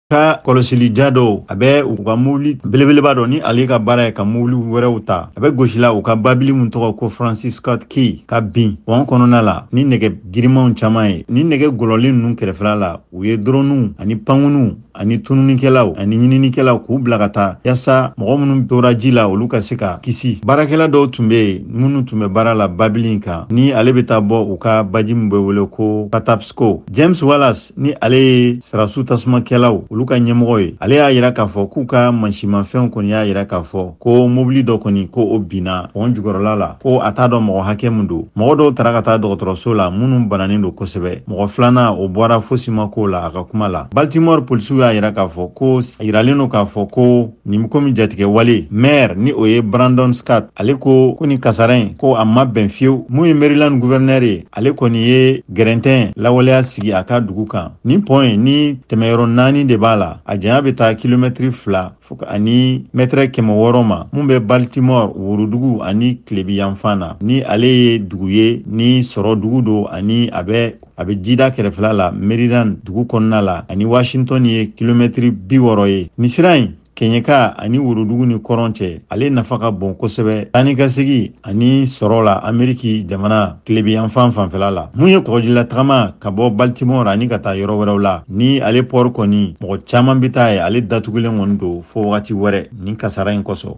ka kɔlɔsili ja dɔw a bɛ u ka mobili belebeleba dɔ ni ale ka baara ye ka mobili wɛrɛw ta a bɛ gosila u ka babili min tɔgɔ ko francis scott key ka bin pɔn kɔnɔna la ni nɛgɛ girimanw caman ye ni nɛgɛ gɔlɔlen ninnu kɛrɛfɛla la u ye doroniw ani pankuniw ani tununikɛlaw ani ɲininikɛlaw k'u bila ka taa yasa mɔgɔ minnu tora ji la olu ka se ka kisi baarakɛla dɔw tun be yen minnu tun bɛ baara la babili in kan ni ale be taa bɔ u ka baji min be wele ko patapsko james wallace ni ale ye sarasu tasumakɛlaw olu ka ɲɛmɔgɔ ye ale y'a yira k'a fɔ k'u ka mansimanfɛnw kɔni y'a yira k'a fɔ ko mobili dɔ kɔni ko o binna pɔn jukɔrɔla la ko a t'a dɔn mɔgɔ hakɛ min don mɔgɔ dɔw tara ka taa dɔgɔtɔrɔso la minnu bananen don kosɛbɛ mɔgɔ filanan o bɔra fosi ma k'o la a ka kuma la baltimore polisiw y'a yira k'a fɔ ko yiralen don k'a fɔ ko nin komi jatigɛ wale maire ni o ye brandon scott ale ko ko nin kasara in ko a ma bɛn fiyewu mun ye maryland gouverneur ye ale kɔni ye gɛrɛntɛn lawaleya sigi a ka dugu kan nin pɔn ye ni tɛmɛyɔrɔ naani de b'a la a janya bɛ taa kilomɛtiri fila fo ka ani mɛtɛrɛ kɛmɛ wɔɔrɔ ma mun bɛ baltimore worodugu ani tilebi yanfan na ni ale ye dugu ye ni sɔrɔ dugu don ani a bɛ a bɛ jida kɛrɛfɛla la maryland dugu kɔnɔna la ani washington ye kilomɛtiri bi wɔɔrɔ ye nin sira in kɛɲɛka ani worodugu ni kɔrɔn cɛ ale nafa ka bon kosɛbɛ taa ni ka segi ani sɔrɔ la ameriki jamana tilebi yanfan fanfɛla la mun ye kɔgɔjila tagama ka bɔ baltimore ani ka taa yɔrɔ wɛrɛw la ni ale pɔri kɔni mɔgɔ caaman be taa yen ale datugulen kɔni don fɔɔ wagati wɛrɛ nin kasara in kosɔn